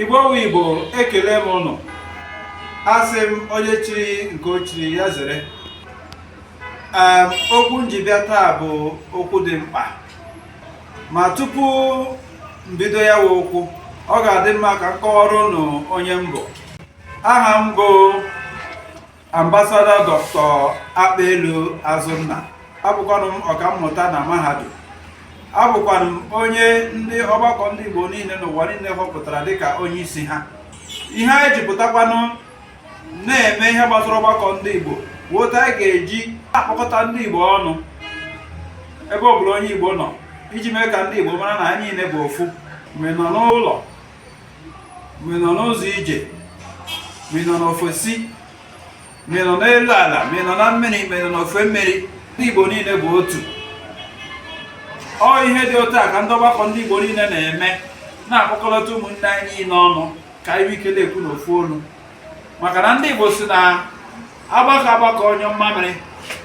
igbo wụ igbo ekele m ụnụ asị m onye chiri nke o chiri ya zere okwu m ji bịa taa bụ okwu dị mkpa ma tupu m bido ya wụ okwu ọ ga-adị mma ka m kọwara ụnụ onye m bụ aha m bụ Ambasada Dọkịta Akpelu Azụnna abụkwanụ m ọkammụta na mahadum abụkwanụ m onye ndị ọgbakọ ndị Igbo niile n'ụwa niile họpụtara dịka onye isi ha ihe anyị ji pụtakwanụ na-eme ihe gbasara ọgbakọ ndị Igbo wụ otu anyị ga-eji akpọkọta ndị Igbo ọnụ ebe ọ bụla onye Igbo nọ iji mee ka ndị Igbo mara na anyị niile bụ ofu ma ị nọ n'ụlọ ma ị nọ n'ụzọ ije ma ị nọ n'ofesi ma ị nọ n'elu ala ma ị nọ na mmiri ma ị nọ n'ofe mmiri ndị Igbo niile bụ otu ọ ihe dị otu a ka ndị ọgbakọ ndị Igbo niile na-eme na-akpọkọlọta ụmụnne anyị niile ọnụ ka anyị nwee ike na-ekwu n'ofu olu maka na ndị Igbo sị na a gbakọọ agbakọ nyụọ mmamịrị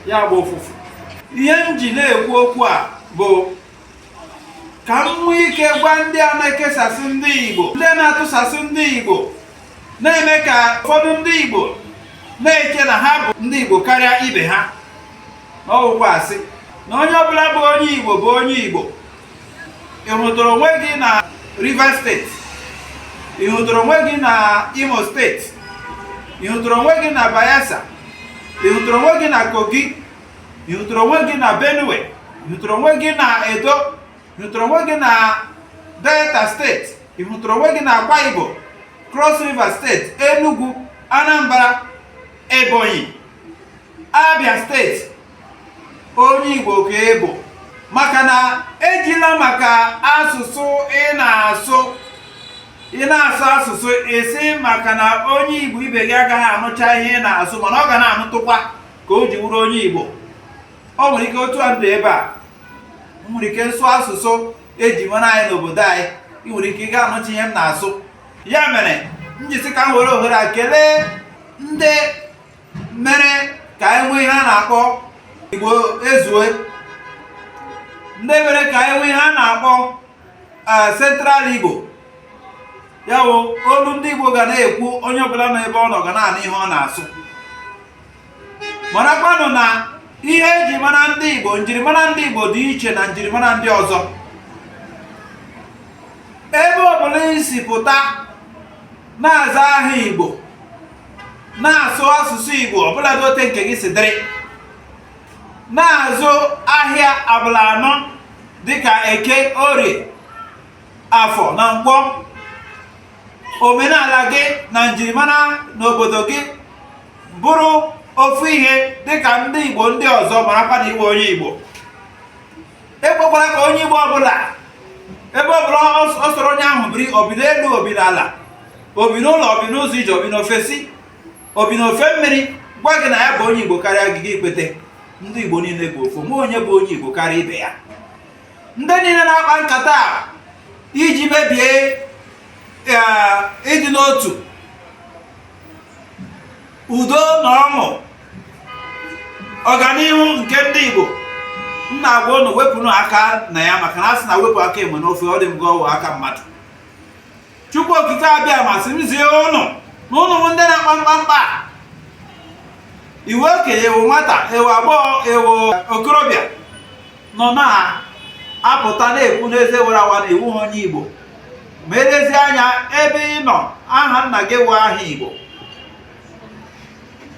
ya agbaa ụfụfụ ihe m ji na-ekwu okwu a bụ ka m nwee ike gwa ndị a na-ekesasị ndị Igbo ndị na-atụsasị ndị Igbo na-eme ka ụfọdụ ndị Igbo na-eche na ha bụ ndị Igbo karịa ibe ha na ọ wụ okwu asị na onye ọbụla bụ onye Igbo bụ onye Igbo ị hụtụrụ onwe gị na Rivers steeti ị hụtụrụ onwe gị na Imo steeti ị hụtụrụ onwe gị na Bayelsa ị hụtụrụ onwe gị na Kogi ị hụtụrụ onwe gị na benue ị hụtụrụ onwe gị na edo ị hụtụrụ onwe gị na delta steeti ị hụtụrụ onwe gị na akwa ibom cross river steeti enugu anambra ebonyi abia steeti onye igbo ka ị bụ maka na ejila maka asụsụ ị na-asụ ị na-asụ asụsụ ị sị maka na onye igbo ibe gị agaghị anụcha ihe ị na-asụ mana ọ ga na-anụtụkwa ka o ji wụrụ onye Igbo ọ nwere ike otu a m dị ebe a nwere ike m sụọ asụsụ eji mara anyị n'obodo anyị ị nwere ike ị gaghị anụcha ihe m na-asụ ya mere m ji sị ka m were ohere a kelee ndị mere ka anyị nwee ihe a na-akpọ Igbo ezue ndị mere ka anyị nwee ihe a na-akpọ eh, Central Igbo ya bụ olu ndị Igbo ga na-ekwu onye ọbụla nọ ebe ọ nọ ga na-anụ ihe ọ na-asụ marakwanụ na ihe eji mara ndị Igbo njirimara ndị Igbo dị iche na njirimara ndị ọzọ ebe ọbụla i si pụta na-aza aha Igbo na-asụ asụsụ Igbo ọbụla dị otu nke gị si dịrị na-azụ ahịa abalị anọ dịka eke orie afọ na nkwọ omenala gị na njirimara n'obodo gị bụrụ ofu ihe dịka ndị Igbo ndị ọzọ marakwa na ị wụ onye Igbo ekwekwara ka onye Igbo ọbụla ebe ọbụla ọ sọrọ onye ahụ biri o bi n'elu o bi n'ala o bi n'ụlọ o bi n'ụzọ ije o bi n'ofesi o bi n'ofe mmiri gwa gị na ya bụ onye Igbo karịa gị gị ekwete ndị Igbo niile bụ ofu ma onye bụ onye Igbo karịa ibe ya ndị niile na-akpa nkata iji mebie ịdị n'otu udo na ọṅụ ọganihu nke ndị Igbo m na-agwa ụnụ wepụnụ aka na ya maka na a sị na wepụ aka enwe n'ofe ọ dị m ka ọ wụ aka mmadụ Chukwu Okike Abịama sị m zie ụnụ na ụnụ wụ ndị na-akpa mkpamkpa ị wụ okenye ị wụ nwata ị wụ agbọghọ ị wụ okorobịa nọ na-apụta na-ekwu n'eze wara awa na ị wụghị onye Igbo ma lezie anya ebe ị nọ aha nna gị wụ aha Igbo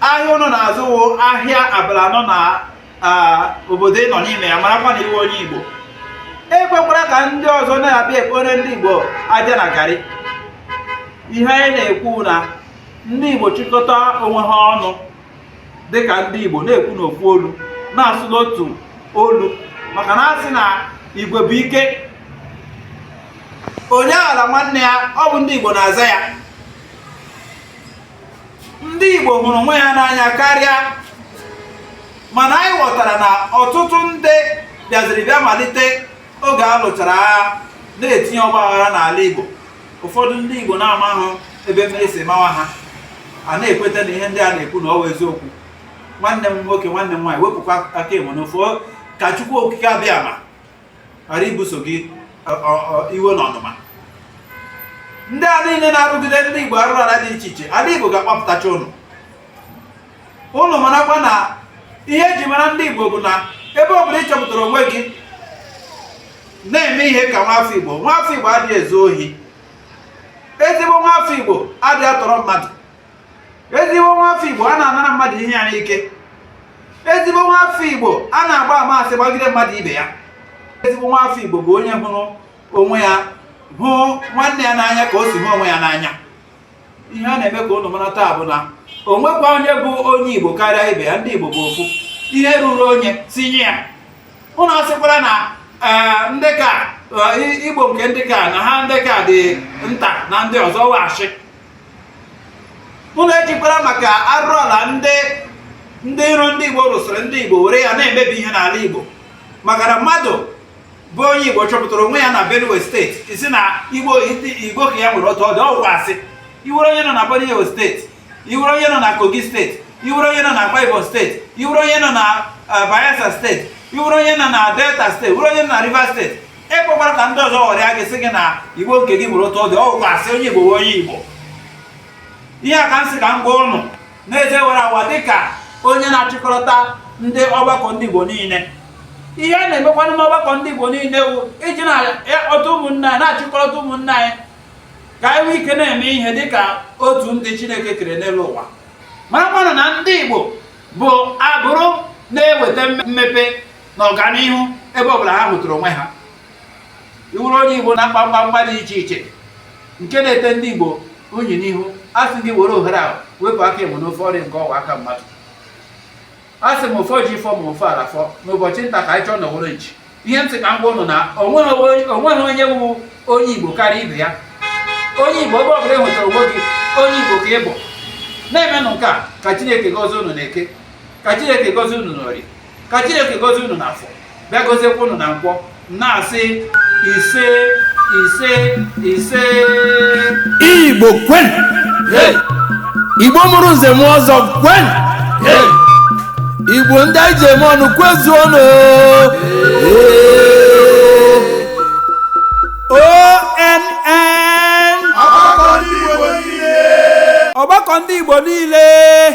ahịa ụnụ na-azụ wụ ahịa abalị anọ na obodo ị nọ n'ime ya marakwa na ị wụ onye Igbo ekwekwara ka ndị ọzọ na-abịa ekporo ndị Igbo aja na garị ihe anyị na-ekwu na ndị Igbo chịkọta onwe ha ọnụ dịka ndị Igbo na-ekwu n'ofu olu na-asụ n'otu olu maka na a sị na igwe bụ ike onye aghala nwanne ya ọ bụ ndị Igbo na-aza ya ndị Igbo hụrụ onwe ya n'anya karịa mana anyị ghọtara na ọtụtụ ndị bịaziri bịa malite oge a lụchara agha na-etinye ọgba aghara n'ala Igbo ụfọdụ ndị Igbo na-amaghị ebe mmiri si mawa ha a na-ekweta na ihe ndị a na-ekwu na ọ wụ eziokwu nwanne m nwoke nwanne m nwaanyị wepụkwa aka enwe n'ofe ka Chukwu Okike Abịama ghara ibuso gị iwe na ọnụma ndị a niile na-arụgide ndị Igbo arụrụ ala dị iche iche ala Igbo ga-akpapụtacha ụnụ ụnụ marakwa na ihe eji mara ndị Igbo bụ na ebe ọ bụla ị chọpụtara onwe gị na-eme ihe ka nwafọ Igbo nwafọ Igbo adịghị ezu ohi ezigbo nwafọ Igbo adịghị atọrọ mmadụ ezigbo nwafọ Igbo anaghị anara mmadụ ihe ya n'ike ezigbo nwafọ Igbo anaghị agba ama asị gbagide mmadụ ibe ya ezigbo nwafọ Igbo bụ onye hụrụ onwe ya hụ nwanne ya n'anya ka o si hụ onwe ya n'anya ihe a na-eme ka ụnụ mara taa bụ na o nwekwa onye bụ onye igbo karịa ibe ya ndị igbo bụ ofu ihe ruru onye sị nye ya ụnụ asịkwara na eh, ndị ka eh, igbo nke ndị ka na ha ndị ka dị nta na ndị ọzọ ọ wụ asị ụnụ ejikwara maka arụrụ ala ndị ndị iro ndị igbo rụsịrị ndị igbo were ya na-emebi ihe n'ala igbo maka na mmadụ bụ onye Igbo chọpụtara onwe ya na Benue steeti ị sị na Igbo nke ya nwere otu ọ dị ọ wụ asị ị wụrụ onye nọ na Benue steeti ị wụrụ onye nọ na Kogi steeti ị wụrụ onye nọ na Akwa Ibom steeti ị wụrụ onye nọ na eh, Bayelsa steeti ị wụrụ onye nọ na Delta steeti wụrụ onye nọ na Rivers steeti ekwekwara ka ndị ọzọ ghọrịa gị sị gị na Igbo nke gị nwere otu ọ dị ọ wụ asị onye Igbo wụ onye Igbo ihe a ka m sị ka m gwa ụnụ n'eze wara awa dịka onye na-achịkọta ndị ọgbakọ ndị Igbo niile ihe a na-emekwanụ n'ọgbakọ ndị Igbo niile wụ iji nakọta ụmụnne anyị na-achịkọta ụmụnne anyị ka anyị nwee ike na-eme ihe dịka otu ndị Chineke kere n'elu ụwa maramanụ na ndị Igbo bụ abụrụ na-eweta mmepe na ọganihu ebe ọbụla ha hụtụrụ onwe ha ị wụrụ onye Igbo na-akpa mkpamkpa dị iche iche nke na-ete ndị Igbo unyi n'ihu a sị gị were ohere ahụ wepụ aka enwe n'ofe ọrịa nke ọwa aka mmadụ a sị m ụfọ ji fọ ma ofe ala fọ n'ụbọchị nta ka anyị chụọ n'owere nchi ihe m sị ka m gwa ụnụ na onweghị onye bụ onye Igbo karịa ibe ya onye Igbo ebe ọbụla i nwetara onwe gị onye Igbo ka ị bụ na-emenụ nke a ka Chineke gọzie unu n'eke ka Chineke gọzie unu n'orie ka Chineke gọzie unu n'afọ bịa goziekwa ụnụ na nkwọ na-asị ise ise ise igbo kwenu igbo mụrụ nze mụọ ọzọ kwenu igbo ndị anyị ji eme ọnụ kwezuonu oo ọgbakọ ndị igbo niile